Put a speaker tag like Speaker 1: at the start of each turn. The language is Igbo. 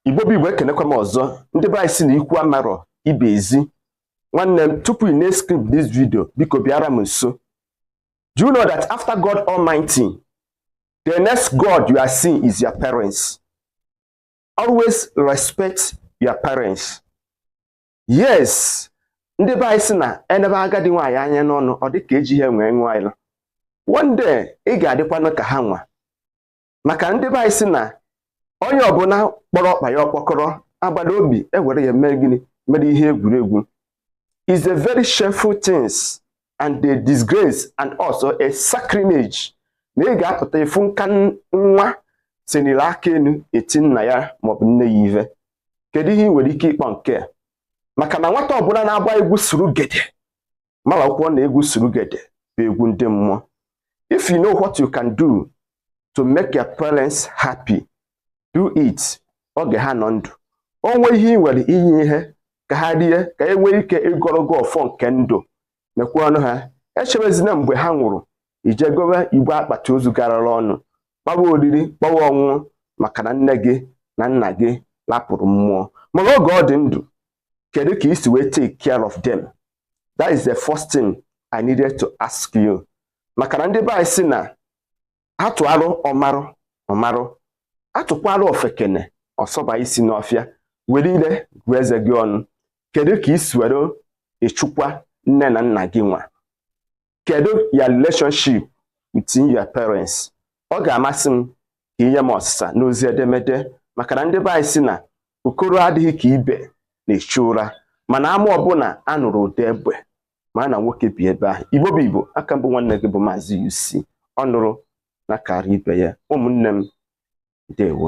Speaker 1: igbo bụ igbo ekenekwa m ọzọ ndị be anyị si na ikwu amarọ ibe ezi nwanne m tupu ị na-eskip this video biko bịara m nso do you know that after god almighty the next god you are seeing is your parents always respect your parents yes ndị be anyị si na enebe agadi nwaanyị anya n'ọnụ ọ dị ka eji ihe nwee nwaanyị one day ị ga-adịkwanụ ka ha nwa maka ndị be anyị si na onye ọbụla kpọrọ ọkpa ya ọkpọkọrọ agbata obi ewere ya mee gịnị mere ihe egwuregwu is a very shameful things and a disgrace and also a sacrilege na ị ga-apụta ịfụ nka nwa senili aka enu eti nna ya maọbụ nne ya ive kedu ihe ị nwere ike ịkpọ nke a maka na nwata ọbụla na-agba egwu surugede marakwa na egwu surugede bụ egwu ndị mmụọ if you know what you can do to make your parents happy do it oge ha nọ ndụ o nwee ihe ị nwere i nye ha ka ha rie ka e nwee ike ịgọrọ gị ọfọ nke ndụ nekwanụ ha echebezina mgbe ha nwụrụ i je gowe igbe akpati ozu garara ọnụ kpawa oriri kpawa ọṅụṅụ maka na nne gị na nna gị lapụrụ mmụọ mana oge ọ dị ndụ kedu ka i si wee take care of them that is the first thing i needed to ask you maka na ndị be anyị si na atụarụ ọmarụ ọmarụ atụkwaarụ ofekene ọsọba isi n'ọfịa were ile gụọ eze gị ọnụ kedu ka i si were echekwa nne na nna gị nwa kedu your relationship with your parents ọ ga-amasị m ka i nye m ọsịsa n'ozi edemede maka na ndị be anyị si na okoro adịghị ka ibe na-echu ụra mana ama ọbụla a nụrụ ụda egbe ma na nwoke bi ebe ahụ igbo bụ igbo a ka m bụ nwanne gị bụ maazị UC ọ nụrụ na karị ibe ya ụmụnne m ndewo